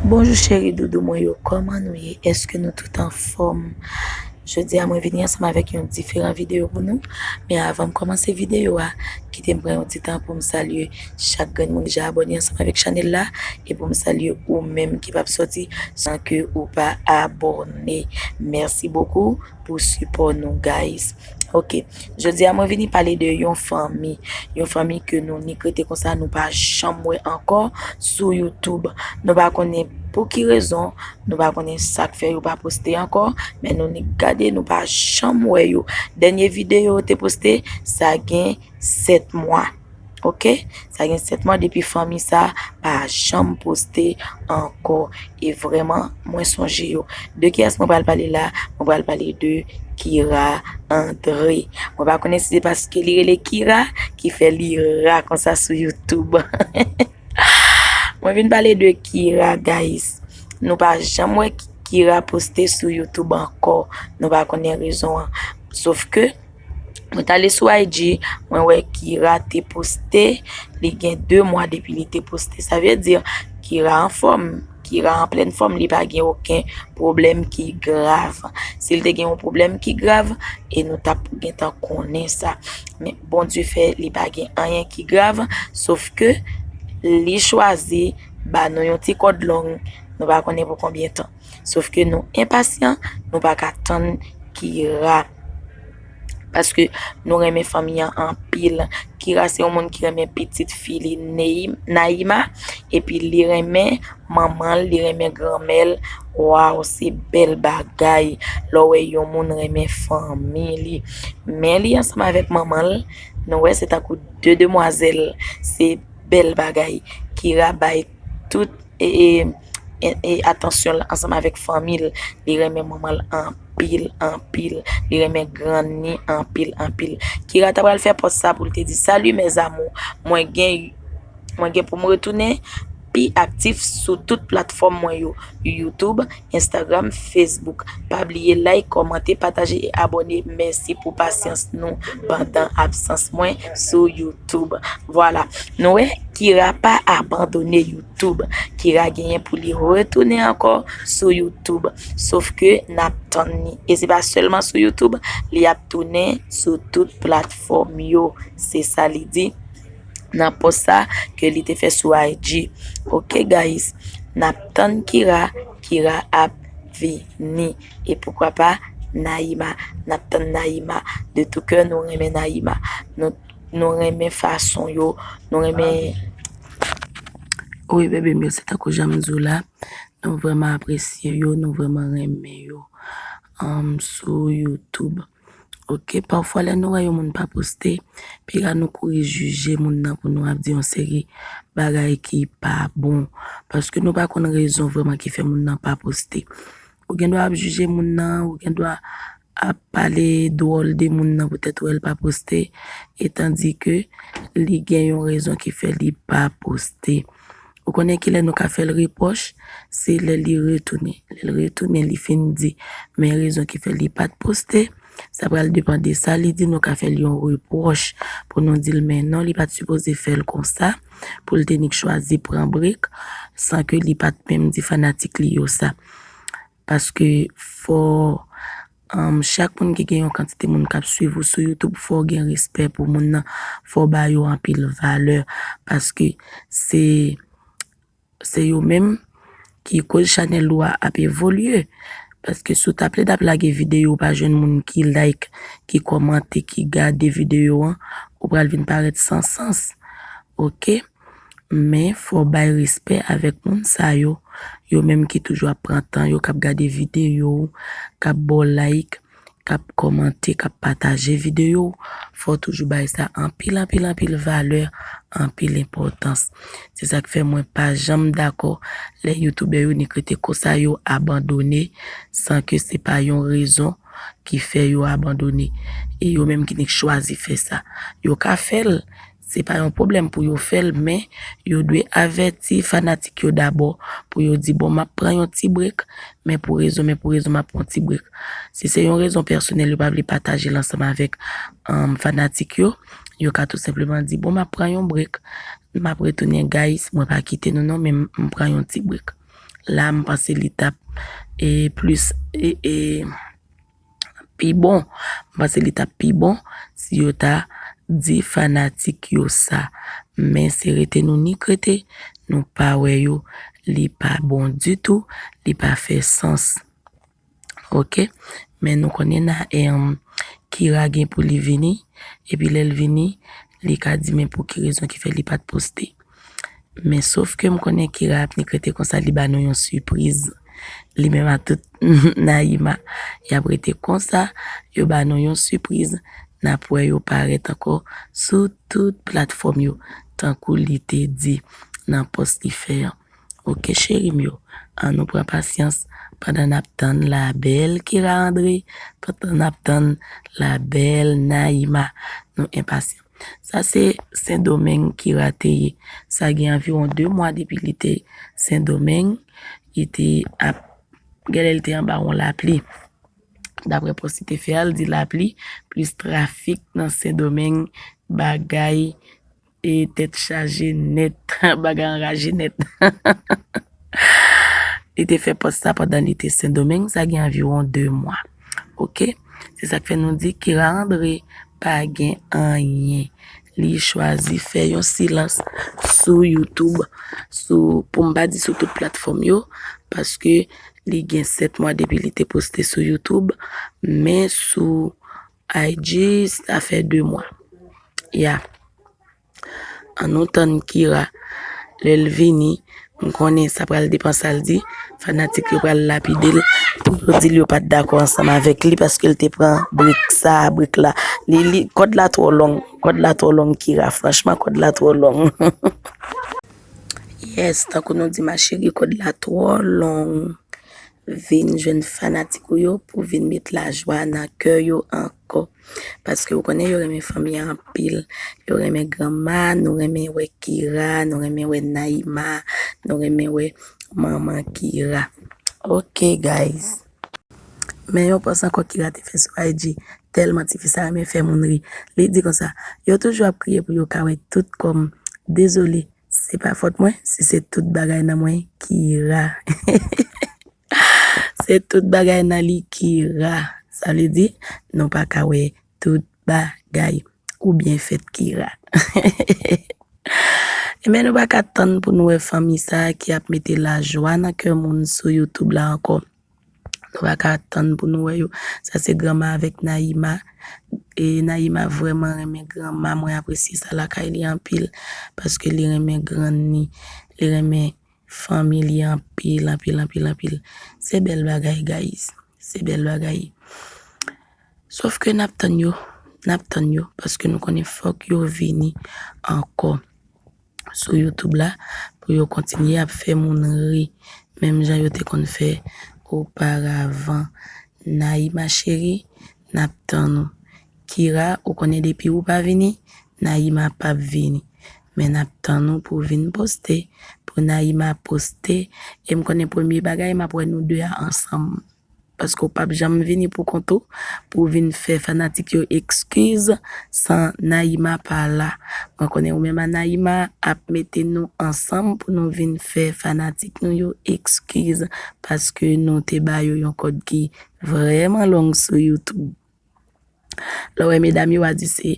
Bonjou cheri doudou mwen yo kòman nou ye eske nou tout anfòm jodi a mwen vini ansanm avèk yon diferan videyo pou nou men avanm kòmanse videyo a kite m pran yon ti tan pou m salye chak grenn moun ki deja abòne ansanm avèk chanèl la e pou m salye ou menm ki pap sòti san ke ou pa abòne mèsi bokou pou sipò nou gayiz. Ok, jodi a mwen vini pale de yon fanmi, yon fanmi ke nou nik rete konsa nou pa janm wè ankò sou YouTube. Nou pa konnen pou ki rezon, nou pa konnen sa k fè yo pa poste ankò, men nou nik gade nou pa janm wè yo. Dènye videyo yo te poste, sa gen 7 mwa. Ok, sa gen 7 mwa depi fanmi sa pa janm poste ankò. E vreman mwen sonje yo. De ki as mwen pral pale la? Mwen pral pale de Kira Andre. Mwen pa konnen si se paske li rele Kira ki fè li ra konsa sou YouTube. Mwen vin pale de Kira guys. Nou pa janm wè Kira poste sou YouTube ankò. Nou pa konnen rezon an. Sof ke. Mwen t ale sou IG, mwen wè Kira te poste, li gen 2 mwa depi li te poste. Sa vle di, Kira an fòm, Kira an plèn fòm, li pa gen oken pwoblèm ki grav. Si li te gen yon pwoblèm ki grav, e nou tap gen tan konnen sa. Men, Bondye fè, li pa gen anyen ki grav, sof ke li chwazi ba nou yon ti kòd long, nou pa konnen pou konbyen tan. Sof ke nou enpasyan, nou pa ka tann Kira. Paske nou renmen fanmi an anpil. Kira se yon moun ki renmen pitit fi li Naïma. Epi li renmen manman l, li renmen granmè l. Waw, se bèl bagay lè w wè yon moun renmen fanmi li. Mè li ansanm avèk manman l, nou wè se tankou 2 demwazèl. Se bèl bagay. Kira bay tout e... e atansyon l ansanm avèk fanmi l. Li renmen manman l anpil anpil. Li renmen grann ni anpil anpil. Kira ta pral fè pòs sa pou l te di Salut mes amours, mwen gen mwen gen pou m retounen pi aktif sou tout platfòm mwen yo, YouTube, Instagram, Facebook. Pa bliye like, kòmante, pataje e abòne. Mèsi pou pasyans nou pandan absans mwen sou YouTube. Vwala, nou wè Kira pa abandone YouTube. Youtube. Kira genyen pou li retounen ankò sou Youtube. Sof ke n ap tann li. E se pa sèlman sou Youtube, li ap tounen sou tout platfòm yo. Se sa li di nan pòs sa ke li te fè sou IG. Ok guys, n ap tann Kira, Kira ap vini. E poukwa pa Naïma. N ap tann Naïma. De tou kè nou renmen Naïma. Nou Nou renmen fason yo, nou renmen... Wi bebe m yo, se tankou jan m di w la, nou vreman apresye yo, nou vreman renmen yo sou YouTube. Ok, pafwa lè nou wè yon moun pa poste, pi ra nou kouri jije moun nan pou nou ap di yon seri bagay ki pa bon. Paske nou pa konn rezon vreman ki fè moun nan pa poste. Ou gen dwa ap jije moun nan, ou gen dwa ap pale dwòl de moun nan poutèt wè l pa poste etan di ke li gen yon rezon ki fè li pa poste. Ou konnen kilè nou ka fè l repwòch? Se lè li retounen. Lè l retounen li fin di men rezon ki fè li pa t poste. Sa pral depan de sa li di nou ka fè l yon repwòch pou nou di l men non li pa t sipoze fè l konsa pou l te nik chwazi pran brek san ke li pa t menm di fanatik li yo sa. Paske fò chak moun ki gen yon kantite moun kap swiv ou sou youtube fò gen respè pou moun nan fò ba yo anpil valè paske se se yo menm ki koz chanèl ou a ap evolye paske sou ta plede ap lage videyo ou pa jwenn moun ki like ki kòmante ki gade videyo an ou pral vin parèt san sans ok. Men fò w bay respè avèk moun sa yo, yo menm ki toujou ap pran tan yo, k ap gade videyo w, k ap ba w like, k ap kòmante, k ap pataje videyo w, fò w toujou bay sa anpil anpil anpil valè, anpil enpòtans. Se sa k fè mwen pa janm dakò lè youtoubè yo nik rete konsa yo abandone san ke se pa yon rezon ki fè yo abandone. E yo menm ki nik chwazi fè sa. Yo ka fè l. Se pa yon pwoblèm pou yo fè l men yo dwe avèti fanatik yo dabò pou yo di bon m ap pran yon ti brek men pou rezon men pou rezon m ap pran yon ti brek. Si se yon rezon pèsonèl yo pa vle pataje l ansanm avèk fanatik yo, yo ka tou senpleman di bon m ap pran yon brek m ap retounen guys mwen pa kite nou non men m pran yon ti brek. La m panse li t ap plis. pi bon m panse li tap pi bon si yo ta di fanatik yo sa men se rete nou nik rete nou pa wè yo li pa bon ditou li pa fè sans ok men nou konnen na e kira gen pou li vini epi lèl vini li ka di men pou ki rezon ki fè li pat poste. Men sof ke m konnen Kira ap nik rete konsa li ba nou yon sipriz li menm ak tout Naïma y ap rete konsa yo ba nou yon sipriz n ap wè yo parèt ankò sou tout platfòm yo tankou li te di nan pòs li fè an ok cheri m yo an nou pran pasyans pandan n ap tann la bèl Kira André pandan n ap tann la bèl Naïma nou enpasyan. Sa se Sendomeng ki rate ye. Sa gen anviwon 2 mwa depi li te Sendomeng, li te ap gen lè li te anba yon lapli. Daprè pòs li te fè a, li di lapli plis trafik nan Sendomeng bagay e tèt chaje nèt, bagay anraje nèt. Li te fè pòs sa pandan li te Sendomeng, sa gen anviwon 2 mwa. Ok se sak fè nou di Kira André pa gen anyen li chwazi fè yon silans sou YouTube sou pou m pa di sou tout platfòm yo paske li gen 7 mwa depi li te poste sou YouTube men sou IG sa fè 2 mwa ya. An nou tann kira lel vini m konnen sa pral depan sal di fanatik yo pral lapidel pou yo dil yo pat dakò ansanm avèk li paske l te pran brik sa brik la li li kòd la twò long kòd la twò long kira franchman kòd la twò long humm. Yes tankou nou di ma chérie kòd la twò long vin jwenn fanatik ou yo pou vin met lajwa nan kè yo ankò. Paske ou konnen yo renmen fanmi an anpil. Yo renmen granma, nou renmen wè Kira, nou renmen wè Naïma, nou renmen wè manman Kira. Ok guys. Men yon pòs ankò Kira te fè sou IG, tèlman tifi sa renmen fè moun ri. Li di konsa, Yo toujou ap kriye pou yo ka wè tout kò m. Dezole, se pa fòt mwen si se tout bagay nan mwen Kira. Se tout bagay nan li ki ra. Sa vle di, nou pa ka wè tout bagay ou byen fèt ki ra. Enben nou pa ka tann pou nou wè fanmi sa ki ap mete lajwa nan kè moun sou YouTube la ankò. Nou pa ka tann pou nou wè yo. Sa se Granma avèk Naïma. E Naïma vrèman renmen Granma. Mwen apresye sa lakay li anpil. Paske li renmen grann ni. Li renmen Fanmi li anpil anpil anpil anpil se bèl bagay guys se bèl bagay sof ke nap tann yo nap tann yo paske nou konnen fòk yo vini ankò sou youtube la pou yo kontinye ap fè moun ri menm jan yo te konn fè oparavan Naïma chérie nap tann ou Kira ou konnen depi ou pa vini Naïma pap vini men nap tann ou pou vin poste pou Naïma poste em konnen premye bagay map wè nou 2 a ansanm paske ou pap janm vini pou kont ou pou vin fè fanatik yo ekskiz san Naïma pa la mwen konnen ou menm a Naïma ap mete nou ansanm pou nou vin fè fanatik nou yo ekskiz paske nou te ba yo yon kòd ki vrèman long sou youtube. Lè w wè medam yo wa di se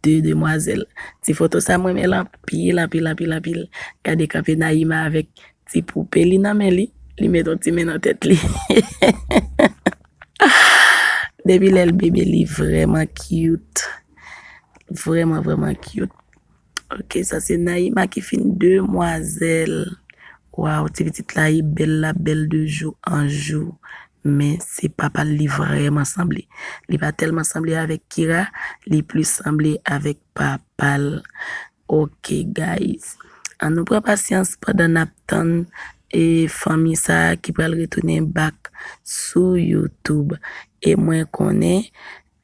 2 demwazèl. Ti foto sa m renmen l anpil anpil anpil anpil. Gade kanpe Naïma avèk ti poupe li nan men li. Li met on ti men nan tèt li. Depi lè l bebe li vrèman cute. Vrèman vrèman cute. Ok sa se Naïma ki fin demwazèl. Waw ti pitit la e bèl lap bèl de jou an jou men se papal li vrèman sanble li pa tèlman sanble avèk Kira li plis sanble avèk papal ok guys an nou pran pasyans pandan nap tann e fanmi sa ki pral retounen back sou YouTube e mwen konnen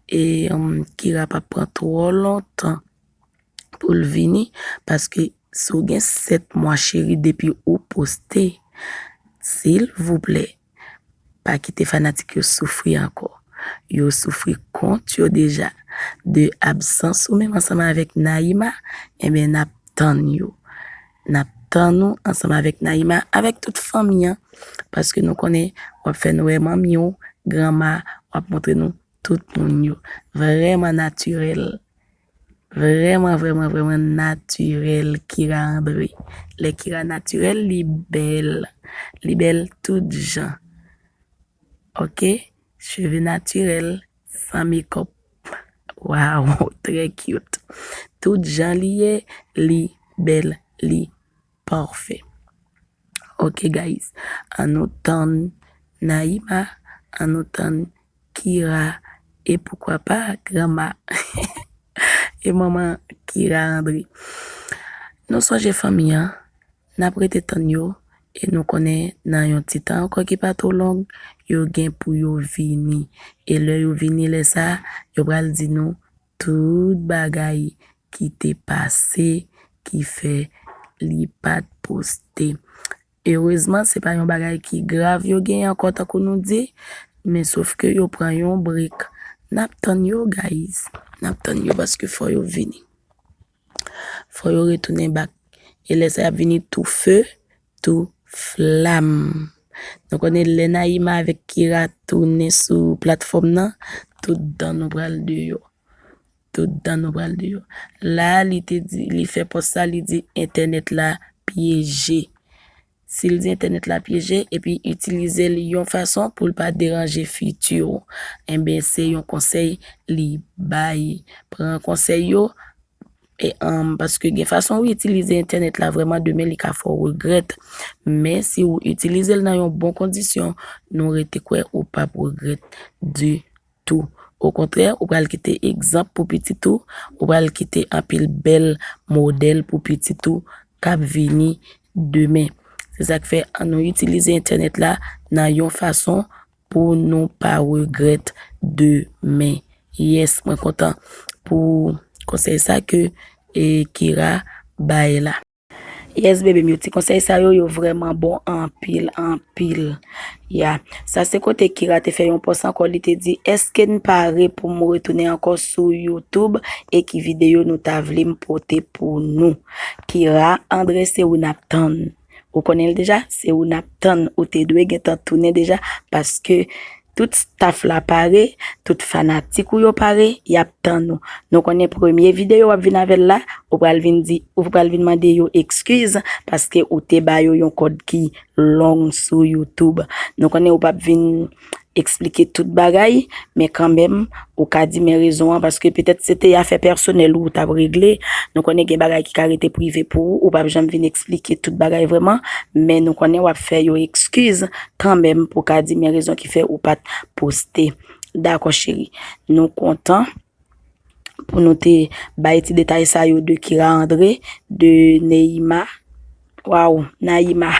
e Kira pap pran twò lontan. poul vini paske si w gen 7 mwa cheri depi ou poste silvouplè pa kite fanatik yo soufri ankò yo soufri kont yo deja de absans ou menm ansanm avèk Naïma enben nap tann yo nap tann ou ansanm avèk Naïma avèk tout fanmi an paske nou konnen wap fè nou wè manmi w granma wap montre nou Tout moun yo vrèman natirèl. Vrèman vrèman vrèman natirèl Kira André. Lè Kira natirèl li bèl. Li bèl tout jan. Ok cheve natirèl san mekòp. Waww trè cute. Tout jan li ye li bèl li. Parfait ok guys an nou tann Naïma an nou tann Kira e poukwa pa granma e manman Kira André nou sonje fanmi an nap rete tann yo e nou konnen nan yon ti tan ankò ki pa two long yo gen pou yo vini e lè yo vini lè sa yo pral di nou Tout bagay ki te pase ki fè li pat poste. Erezman se pa yon bagay ki grav yo gen ankò tankou nou di, men sof ke yo pran yon break. Nap tann yo guys, nap tann yo paske fò yo vini. Fò yo retounen bak. E lè sa y ap vini tou fe, tou flam. Nou konnen lè Naïma avèk Kira tounen sou platfòm nan, tout dan nou pral deyò. Tout dan nou pral deyò. La a li te di, li fè pòs sa, li di entènèt la pyeje. Si l di entènèt la pyeje epi itilize l yon fason pou l pa deranje fiti w, enben se yon konsèy li bay. Pran konsèy yo paske gen fason ou itilize entènèt la vrèman demen li ka fè w regrèt. Men si w itilize l nan yon bon kondisyon, nou rete kwè ou pap regrèt ditou. tou. Okontrè, ou pral kite egzanp pou pitit ou, ou pral kite anpil bèl modèl pou pitit ou k ap vini demen. Se sa k fè, annou itilize Entènèt la nan yon fason pou nou pa regrèt demen. Yes, mwen kontan pou konsèy sa ke Kira bay la. Yes bebe m yo ti konsèy sa yo yo vrèman bon anpil anpil ya sa se kote kira te fè yon pòs ankò li te di eske n pare pou m retounen ankò sou youtube e ki videyo nou ta vle m pote pou nou kira andre se ou nap tann ou konnen l deja se ou nap tann ou te dwe gentan tounen deja paske Tout staff la pare, tout fanatik ou yo pare, yap tann ou. Nou konnen premye videyo wap vin avèl la, ou pral vin di, ou pral vin mande yo ekskiz paske ou te ba yo yon kòd ki long sou youtube. Nou konnen ou pap vin eksplike tout bagay, men kanmenm Ou ka di men rezon an paske petèt se te afè pèsonèl ou ou t ap regle. Nou konnen gen bagay ki ka rete prive pou ou, ou pa p janm vin eksplike tout bagay vrèman, men nou konnen w ap fè yo ekskiz kanmenm pou w ka di men rezon ki fè ou pa t poste. Dakò cheri. Nou kontan pou nou te bay ti detay sa yo de Kira André, de Neyima, waww Nayima.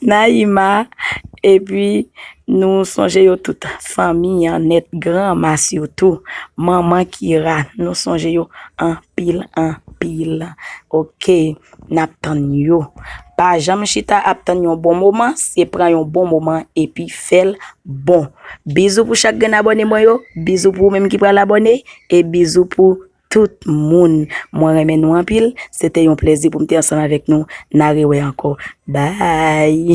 Naïma, Epi, nou sonje yo tout, fanmi an nèt, granma sitou, manman Kira, nou sonje yo anpil anpil. Oke, n ap tann yo. Pa janm chita ap tann yon bon moman, se pran yon bon moman epi fè l bon. Bizou pou chak grenn abòne mwen yo, bizou pou ou menm ki pral abòne e bizou pou Tout moun mwen renmen nou anpil se te yon plezi pou m te ansanm avèk nou na rewè ankò bye.